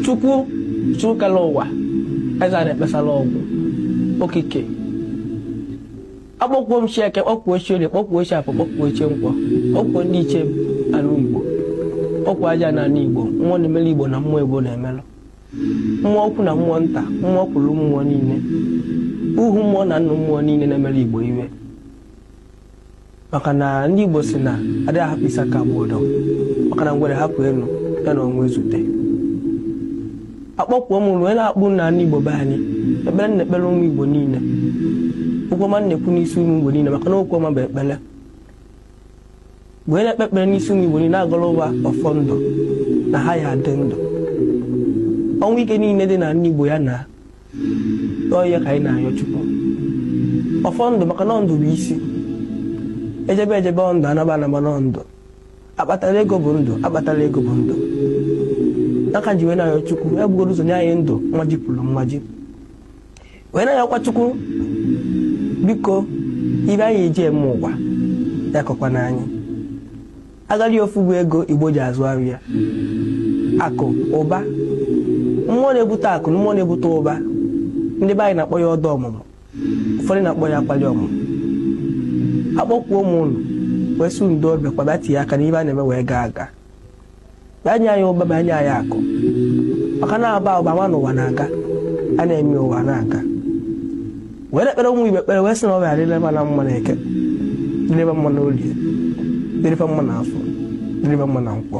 Chukwu Chukwu kere ụwa eze a na-ekpesara ọgwụ okike akpọkuo m Chi Eke kpọkuo Chi Orie kpọkuo Chi Afọ kpọkuo Chi Nkwọ kpọkuo ndị ichie ala igbo kpọkuo ajana ala igbo mmụọ na-emere igbo na mmụọ igbo na-emelụ mmụọ ukwu na mmụọ nta mmụọ kwuru mmụọ niile ohu mmụọ na nnụ mmụọ niile na-emere igbo ife maka na ndị Igbo sị na adịghị ahapụ isi aka agba ọdọ maka na ngwere hapụ elu ya na ọnwụ ezute akpọkuo m ụnụ wee na-akpọ na ala Igbo be anyị ekpere na-ekpere ụmụ Igbo niile okwu ọma na-ekwu n'isi ụmụ Igbo niile maka na okwu ọma bụ ekpere wee na-ekpe ekpere n'isi ụmụ Igbo niile agọrọ ha ọfọ ndụ na ha ya-adị ndụ ọnwụ ike niile dị na ala Igbo ya na n'ọhịa ka anyị na-ayọ chukwu ọfọ ndụ maka na ndụ bụ isi ejebe ejebe ndụ anaba anaba na ndụ akpatara ego bụ ndụ akpatara ego bụ ndụ n'aka m ji wee na-ayọ chukwu ya bugoro ụzọ nye anyị ndụ mmaji pụrụ mmaji wee na-ayọkwa chukwu biko ife anyị ji eme ụwa ya akọkwana anyị Agadi ofu bụ ego Igbo ji azụ afịa akụ ụba mmụọ na-ebute akụ na mmụọ na-ebute ụba ndị be anyị na-akpọ ya ọda ọmụmụ ụfọdụ na-akpọ ya akwali ọmụmụ akpọkuo m ụnụ wee sị ụnụ doo bịakwaba tinye aka n'ife a na-eme wee gaa aga bịa nye anyị ụba bịa nye anyị akụ maka na aba ụba nwa n'ụwa na-aga a na-eme ụwa na-aga wee na-ekpere ụmụ Igbo ekpere wee sị na ọ ga-adịrị ha na mma na eke dịrị ha mma na olie dịrị ha mma na afọ dịrị ha mma na nkwọ